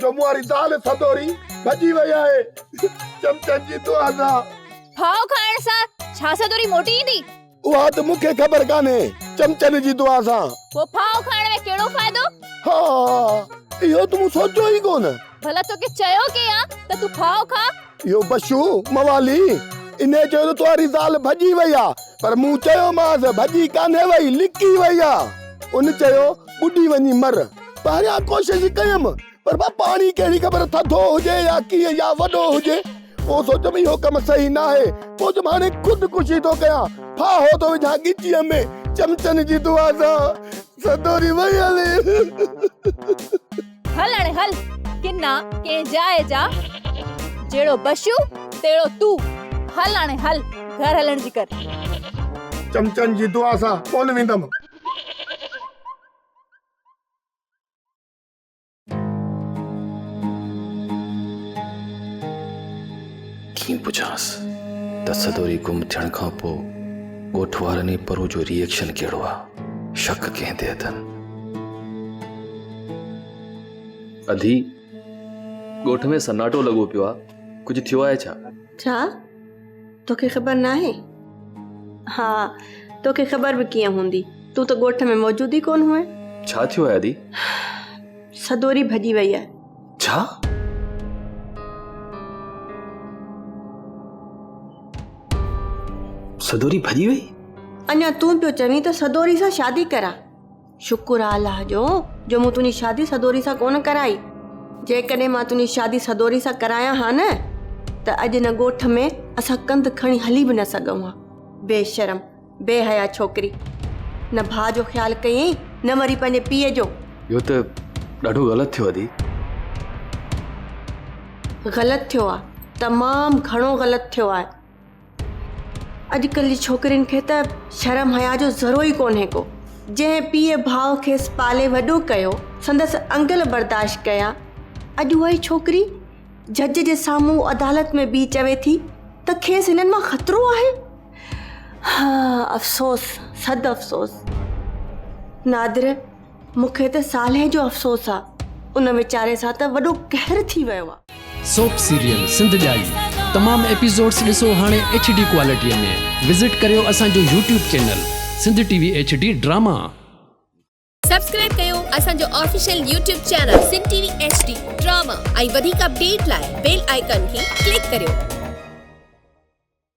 جو مون واري زال سدوري ڀڄي وئي آهي چمچن جي دعا سان. ڦاهو کائڻ سان ڇا سدوري موٽي ايندي؟ اها ته مون کي خبر ڪانهي چمچن جي دعا سان. پوء ڦاهو کائڻ ۾ ڪهڙو فائدو؟ ها اهو ته مون سوچيو ئي ڪونه. ڀلا توکي چيو ڪيئن آ ته تون ڦاهو کاء؟ اهو بشو موالي انهيء چيو ته تنهاري زال ڀڄي وئي آ، پر مون چيومانس ڀڄي ڪانهي وئي، لڪي وئي آ. ان چيو، ٻڏي وڃي مر. پهريان ڪوشش ڪيم، پر ڀا پاڻي ڪهڙي خبر ٿڌو هجي يا ڪيئن يا وڏو هجي. پوء سوچيم اهو ڪم صحيح ناهي. سوچيم هاڻي خود ڪشي ٿو ڪيان، ڦاهو ٿو وجهان ڳچيء ۾، چمچن جي دعا سان سڌو ٿي ويهي هلي. هل هاڻي هل، ڪنا ڪنهن جاء جا، جهڙو بشو تهڙو تون، هل هاڻي هل، گهر هلڻ جي ڪر. چمچن جي دعا سان ڪونه ويندم. ڪيئن پڇانس ته سدوري گم ٿيڻ کان پوء ڳوٺ وارن ۽ پروء جو ري ايڪشن ڪهڙو آ؟ شڪ ڪنهن تي اٿن؟ اڌي ڳوٺ ۾ سناٽو لڳو پيو آهي ڪجهه ٿيو آهي ڇا ڇا توکي خبر ناهي ها توکي خبر به ڪيئن هوندي تون ته ڳوٺ ۾ موجود ئي ڪون هئين ڇا ٿيو آهي اڌي سدوري ڀڄي وئي آهي ڇا سدوري ڀڄي وئي اڃا تون پيو چوين ته سدوري سان شادي ڪران شڪر آ الله جو، جو مون تنهنجي شادي سدوري سان ڪونه ڪرائي. جيڪڏهن مان تنهنجي شادي سدوري سان ڪرايان ها نه ته اڄ هن ڳوٺ ۾ اسان ڪنڌ کڻي هلي به نه سگهون ها. بي شرم، بي حيا ڇوڪري. نه ڀاء جو خيال ڪيئي نه وري پنهنجي پيء جو. اهو ته ڏاڍو غلط ٿيو ادي. غلط ٿيو آ، تمام گهڻو غلط ٿيو آ. اڄڪلهه جي ڇوڪرين کي ته شرم حيا جو ذرو ئي ڪونهي ڪو جنهن پيء ڀاء کيس پالي وڏو ڪيو سندس انگل برداشت ڪيا اڄ اها ئي ڇوڪري جج جي سامهون عدالت ۾ بيهي چوي ٿي ته کيس هنن مان خطرو آهي ها افسوس صد افسوس نادر مون کي ته صالح جو افسوس آ ان ويچاري سان ته وڏو قهر ٿي ويو آ. سوپ سيريل سنڌ ڄائي تمام ايپيسوڊس ڏسو هاڻي ايڇ ڊي ڪوالٽيء ۾ وزٽ ڪريو اسان جو YouTube channel Sindh T V H D drama. Subscribe ڪيو اسان جو official YouTube channel Sindh T V H D drama ۽ وڌيڪ اپڊيٽ لاء بيل آئيڪان کي ڪلڪ ڪريو.